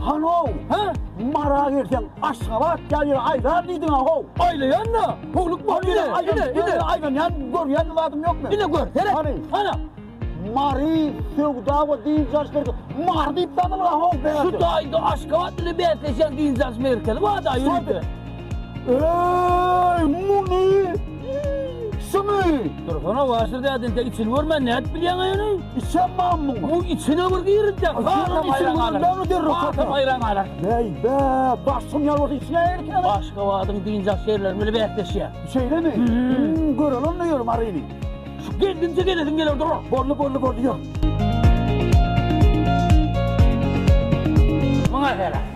Hanow, hä? Mara gelseň, Aşgabat ýa ýere aýlar diýdiň-ä, how! Aýlaýan-da, howluk bolup ýören aýdym. Ine, ine, ine. Aýlanýan, görýän zadym ýokmy? Ine gör, seret. Hany? Hana! Mary, söwda we dynç alyş merkezi. Mary diýip tanalga, how, bärde. Şu taýda Aşgabat bilen bäsleşýän dynç alyş merkezi bar-da, ýörite. Eeeeý muny şumy? Dursana waşir däde inte içini görmän nädip bilýäň ýöne? Içem man muňa. Bu içine bir girinjek. Haram içini görmän näme derrek satar. Haram aýran galar. Bäý bä başym ýalwar içine erkene. Aşgabadyň dynjak ýerleri bile bäsleşýär. Şeýlemi? Hmm gören onda ýöre Maryny. Şu geldimçe gelesim geler dur. Boldy boldy boldy ýör. Muňa selam.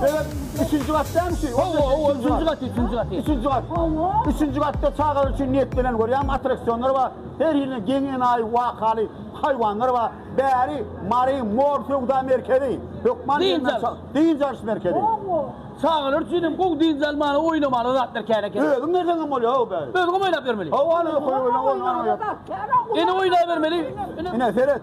Sebäp üçünji gat dämi şu? Hawa, hawa, üçünji gat, üçünji gat. Üçünji gat. Üçünji gatda çagalar üçin niýetlenen görýäňmi attraksionlar bar. Her hili geň enaýy wakaly haýwanlar bar. Bäri Mary mor söwda merkezi. Hökman gelmeli çag. Dynç alyş merkezi. Çagalar üçin hem gowy dynç almaly, oýnamaly zatlar kän eken. Özüň berseň hem bolýar hawa bäri. Özüňem oýnap bermeli. Hawa, ine oýnabermeli. Ine seret.